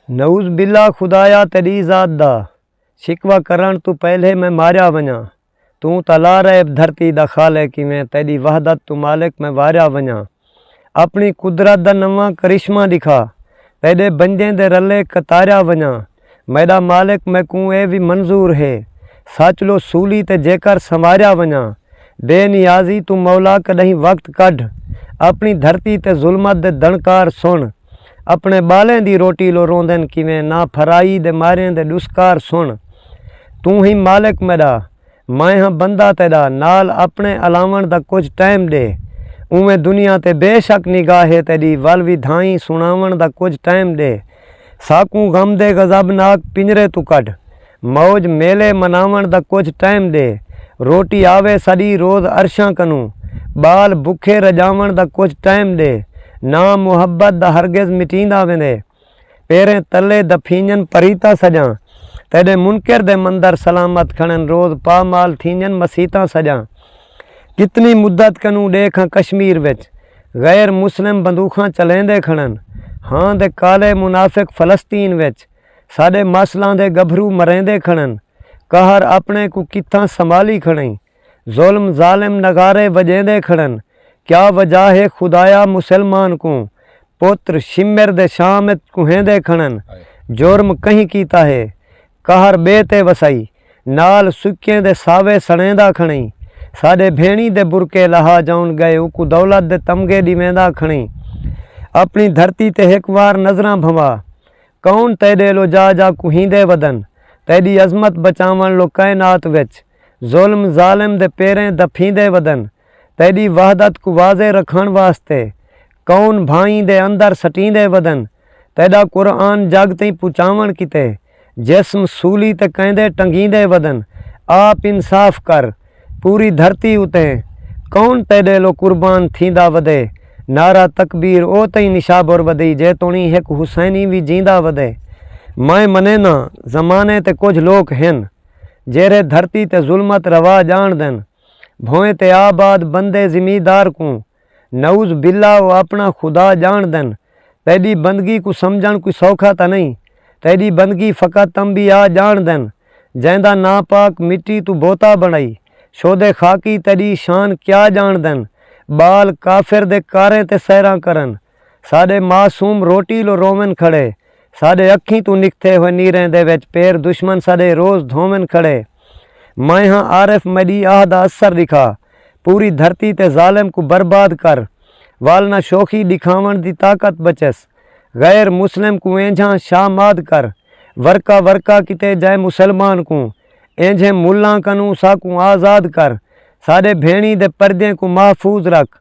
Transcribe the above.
نعوذ باللہ خدایا تیݙی ذات دا شکوہ کرݨ توں پہلے میں ماریا ونڄاں توں تاں لا ریب دھرتی دا خالق ایویں تیݙی وحدت توں مالک میں واریا ونڄاں اپݨی قدرت دا نواں کرشمہ ݙکھا تیݙے بندیں دے رلے قطاریا ونڄاں میݙا مالک میکوں ایہ وی منظور ہے سچ لو سولی تے جیکر سنواریا ونڄاں بے نیازی توں مولا کݙاہیں وقت کڈھ اپݨی دھرتی تے ظلمت دے دݨکار سݨ اپݨے ٻالیں دی روٹی لو روندن کیویں نہ پھرائی دے ماریں دے ݙسکار سݨ توں ہی مالک میݙا میں ہاں بندہ تیݙا نال اپݨے الاوݨ دا کجھ ٹائم ݙے اونویں دنیا تے بے شک نگاہ ہے تیݙی ول ودھائیں سݨاوݨ دا کجھ ٹائم ݙے ساکوں غم دے غضب ناک پنجرے توں کڈھ موج میلے مناوݨ دا کجھ ٹائم ݙے۔ روٹی آوے ساݙی روز عرشاں کنوں۔ ٻال بکھے رڄاوݨ دا کجھ ٹائم ݙے۔ ناں محبت دا ہرگز مٹیندا ویندے۔ پیریں تلے دفینڄن پریتاں سڄاں۔ تیݙے منکر دے مندر سلامت کھنݨ روز پامال تھینڄن مسیتاں سڄاں۔ کتنی مدت کنوں ݙیکھ ہاں کشمیر وچ۔ غیر مسلم بندوخاں چلیندے کھنݨ۔ ہاں دے کالے منافق فلسطین وچ۔ ساݙے ماسلاں دے ڳبھرو مریندے کھڑن قہر اپݨے کوں کتھاں سنبھالی کھڑئیں ظلم ظالم نغارے وڄیندے کھڑن کیا وجہ ہے خدایا مسلمان کوں پتر شمر دے شام اچ کوہیندے کھڑن جرم کہیں کیتا ہے قہر ٻئے تے وسائی نال سکیں دے ساوے سڑیندا کھڑئیں ساݙے بھیݨی دے برقعے لہا جاون ڳئے اوکوں دولت دے تمغے ݙیویندا کھڑئیں اپݨی دھرتی تے ہک وار نظراں بھنوا کون تیڈے لو جا جا کوہیندے ودن تیڈی عظمت بچاون لو کائنات وچ ظلم ظالم دے پیریں دپھیندے ودن تیڈی وحدت کوں واضح رکھن واسطے کون بھائیں دے اندر سٹیندے ودن تیڈا قرآن جگ تئیں پچاون کیتے جسم سولی تے کیندے ٹنگیندے ودن آپ انصاف کر پوری دھرتی اتے کون تیڈے لو قربان تھیندا ودے نعرہ تکبیر او تئیں نشابر ودی جے توڑیں ہک حسینی وی جیندا ودے میں منینداں زمانے تے کجھ لوک ہن جیرھے دھرتی تے ظلمت روا جانڑدن بھویں تے آباد بندے زمیندار کوں نعوذ باللہ او آپݨا خدا ڄاݨدن، تیݙی بندگی کوں سمجھݨ کوئی سوکھا تاں نئیں، تیݙی بندگی فقط تنبیاء ڄاݨدن جیندا ناں پاک مٹی توں بوتا بݨائی شودے خاکی تیݙی شان کیا ڄاݨدن ٻال کافر دے کاریں تے سحراں کرن، ساݙے معصوم روٹی لو روون کھڑے ساݙے اکھیں توں نکھتے ہوئے نیریں دے وچ پیر دشمن ساݙے روز دھوون کھڑے میں ہاں عارف میݙی آہ دا اثر ݙکھا پوری دھرتی تے ظالم کوں برباد کر ول نہ شوخی ݙکھاوݨ دی طاقت بچس غیر مسلم کوں اینجھاں شاماد کر ورقہ ورقہ کیتے جئے مسلمان کوں اینجھیں ملاں کنوں ساکوں آزاد کر ساݙے بھیݨیں دے پردیں کوں محفوظ رکھ